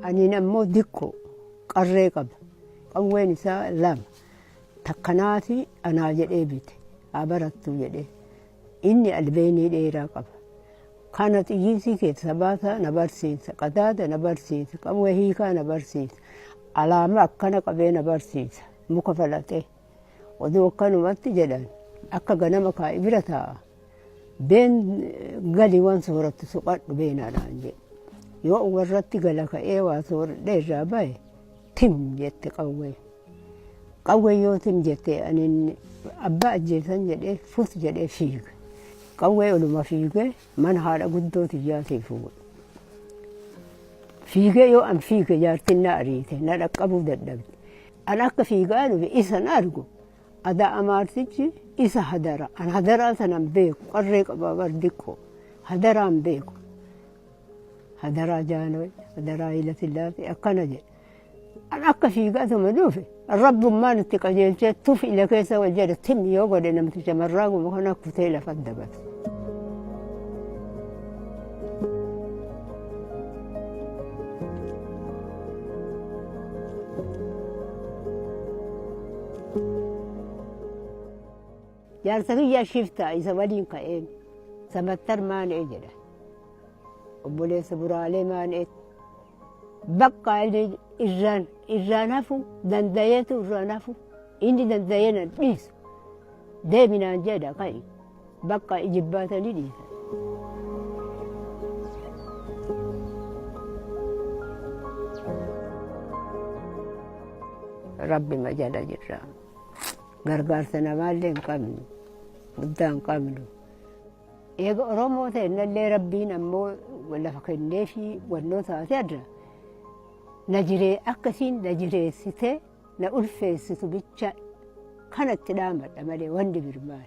Aniin ammoo dikkoo qarree qaba. Qawween isaa lama. Takkanaa fi anaa jedhee bite. Haa barattuu jedhee. Inni albeenii dheeraa qaba. Kana xiyyiinsii keeti sabaasaa na barsiisa, qadaada na barsiisa, qawwee hiikaa na barsiisa, alaama akkana qabee na barsiisa, muka falaxee. Oduu akkanumatti jedhan akka ganama kaa'i bira taa'a. Been gali waan soorattu soqadhu beenaadhaan jedhe. Yoo warratti gala ka'ee waa sooradhee irraa bahe Tim jette qawwee. Qawwee yoo tim jette ani abbaa ajjeesan jedhee fut jedhee fiige. Qawwee oluma fiigee mana haadha guddoo tiyyaatii fuudhe. Fiigee yoo an fiige jaartiin na ariite na dhaqqabuu dadhabde. An akka fiigaa dhufe isan argu adaa amaartichi isa hadara. An hadaraa sanan beeku qarree qabaa bar diqqoo. Hadaraan beeku. Hadaraa Jaanooy, hadaraa Hayilasillaasee akkana jedhe. An akka fiigatuma dhufe rabbummaan itti qajeelchee tuf ila keessa wal jedhe tim yoo godhe namti shamarraa guma kana kutee lafa dabate. Jaarsa kiyya shiftaa isa waliin ka'een samattar maan'ee jedha. Obboleessa buraalee maan'eetti. Bakka inni irraan irraan hafu danda'eetu irraan hafu inni danda'ee na dhiisu. Deeminaan jedha ka'i. Bakka ijibbaatanii dhiisan. Rabbi majala jirra. Gargaarsa namaallee hin qabnu. Guddaa hin qabnu. Eega Oromoo ta'ennallee Rabbiin ammoo lafa kenneefii wannoo taate adda. Na jiree akkasiin na jireessitee na ulfeessitu bicha kanatti dhaamadha malee wanti birmaan.